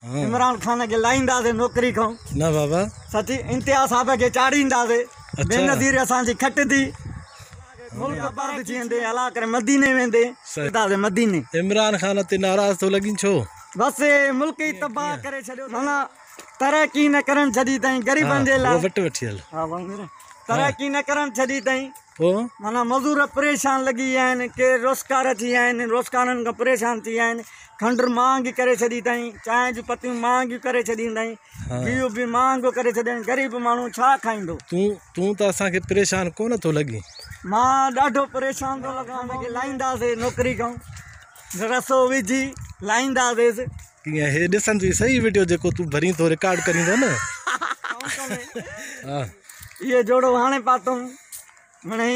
عمران خان کي لاهينداسين نوڪري کان نه بابا سچي انتها صاحب کي چاڙهينداسين بي نظير اسان جي کٽ ٿي ملڪ آباد ٿي ويندي الا ڪري مديني ويندي سيدازي مديني عمران خان تي ناراض ٿو لڳين ڇو بس ملڪ ئي تباهه ڪري ڇڏيو مانا ترقي نه ڪرڻ ڇڏي تائين غريبن جي لاء وٽ وٺي هل ها وامير ترقي نه ڪرڻ ڇڏي تائين پو مانا مزور پريشان لڳي ويا آهن ڪي روزگار ٿي ويا آهن روزگارن کان پريشان ٿي ويا آهن کنڊ مهانگي ڪري ڇڏي اٿائين، چانهه جون پتيون مهانگيون ڪري ڇڏيون اٿائين، گيهه به مهانگو ڪري ڇڏيائين، غريب ماڻهو ڇا کائيندو؟ تون تون ته اسان کي پريشان ڪونه ٿو لڳين؟ مان ڏاڍو پريشان ٿو لڳان، اسان کي لائينداسين نوڪري کان، رسو وجهي لائينداسيس. ڪيئن هي ڏسن ٿي صحيح وڊيو جيڪو تون ڀرين ٿو رڪارڊ ڪرين ٿو نه ها اهو جوڙو هاڻي پاتم مڙئي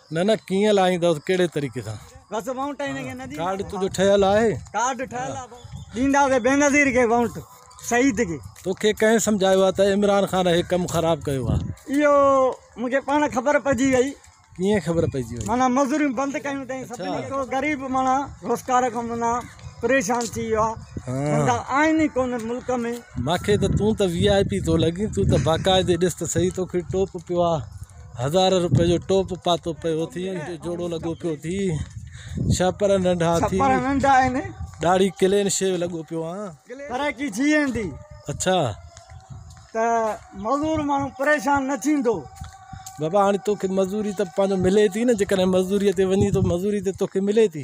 نه نه ڪيئن لاهيندس ڪهڙي طريقي سان. بس وونٽ هن کي نه ڏيندا. ڪارڊ تنهنجو ٺهيل آهي. ڪارڊ ٺهيل آ بس. ڏينداسين بينظير کي وونٽ شهيد کي. توکي ڪنهن سمجهايو آ ته عمران خان هي ڪم خراب ڪيو آ. اهو مونکي پاڻ خبر پئجي وئي. ڪيئن خبر پئجي وئي. معنيٰ مزوريون بند ڪيون تئين سڀني ڪو غريب معنيٰ روزگار کان معنيٰ پريشان ٿي ويو آ. ڌنڌا آهن ئي ڪونه ملڪ ۾. ماکي ته تون ته VIP ٿو لڳين تون ته باقاعدي ڏس ته سهي توکي ٽوپ پيو آ. هزار روپئي جو ٽوپ پاتو پيو ٿي جوڙو لڳو پيو ٿي ڇپر ننڍا ٿي ڇپر ننڍا آهن ڏاڙهي ڪلين شيو لڳو پيو آ پر ڪي جي ايندي اڇا ته مزور ماڻهو پريشان نه ٿيندو بابا هاڻي توکي مزوري ته پنهنجو ملي ٿي نه جيڪڏهن مزدوري تي وڃي ٿو مزوري تي توکي ملي ٿي